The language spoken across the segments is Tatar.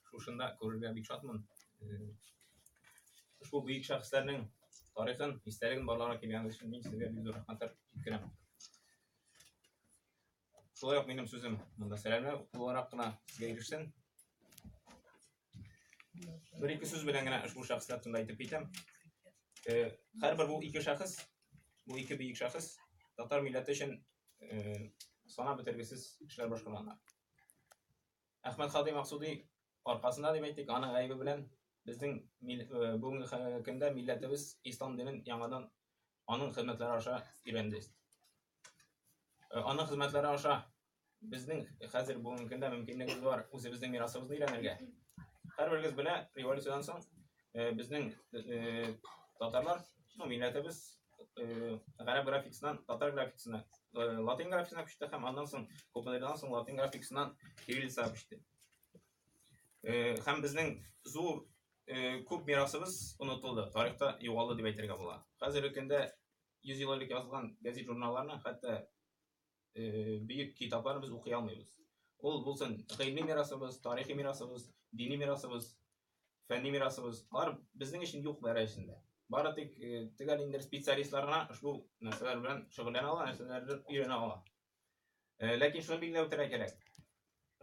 шушында күрергә бик шатмын. Ошбу бөек шәхесләрнең тарихын, истәлеген барларга килгәнегез өчен мин сезгә бик зур рәхмәтләр җиткерәм. Шулай ук минем сүзем монда сәламләр буларак кына сезгә ирешсен. Бер ике сүз белән генә ошбу шәхесләр турында әйтеп китәм. Һәрбер бу ике шәхес, бу ике бөек шәхес татар милләте өчен санап бетергесез эшләр башкарганнар. Әхмәт Хадый Максуди аркасында дип әйтик, аның гаебе белән безнең бүгенге көндә милләтебез ислам динен яңадан аның хезмәтләре аша өйрәнде. Аның хезмәтләре аша безнең хәзер бүгенге көндә мөмкинлегебез бар үзебезнең мирасыбызны өйрәнергә. Һәрберегез белә, революциядән соң Э, безнең э, э, татарлар, ну, милләтебез гарәп графикасыннан татар графикасына, латин графикасына күчте һәм аннан соң күпмедердән соң латин графикасыннан кириллицага күчте. Һәм безнең зур күп мирасыбыз онытылды, тарихта югалды дип әйтергә була. Хәзерге көндә 100 ел элек язылган газет-журналларны, хәтта бөек китапларны без укый алмыйбыз. Ул булсын гыйльми мирасыбыз, тарихи мирасыбыз, дини мирасыбыз, фәнни мирасыбыз, алар безнең өчен юк дәрәҗәсендә. Бары тик төгәл инде специалистлар гына ошбу нәрсәләр белән шөгыльләнә ала, нәрсәләрне өйрәнә ала. Ләкин шуны билгеләп үтәргә кирәк.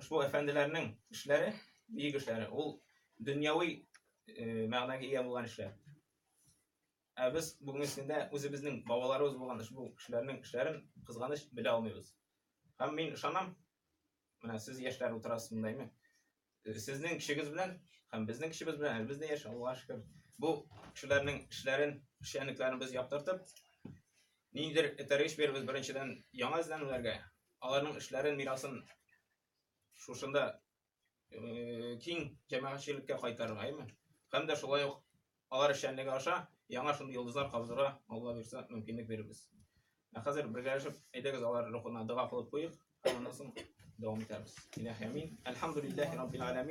Ошбу әфәнделәрнең эшләре, бөек эшләре, ул дөньяви мәгънәгә ия булган эшләр. Ә без бүгенге көндә үзебезнең бабаларыбыз булган ошбу кешеләрнең эшләрен кызганыч белә алмыйбыз. Һәм мин ышанам, менә сез яшьләр утырасыз монда, әйме? Сезнең кешегез белән һәм безнең кешебез белән әлбез дә яшь, Аллага шөкер. Бу кешеләрнең эшләрен, эшчәнлекләрен без яктыртып, ниндидер этәргеч бирбез беренчедән яңа эзләнүләргә, аларның эшләрен, мирасын шушында киң җәмәгатьчелеккә кайтарырга, әйме? Һәм дә шулай ук алар эшчәнлеге аша яңа шундый йолдызлар кабызырга Алла бирсә мөмкинлек бирербез. Ә хәзер бергәләшеп әйдәгез алар рухына дога кылып куйыйк, аннан соң дәвам итәрбез. Илаһи амин. Әлхәмдүлилләһи раббил аламин.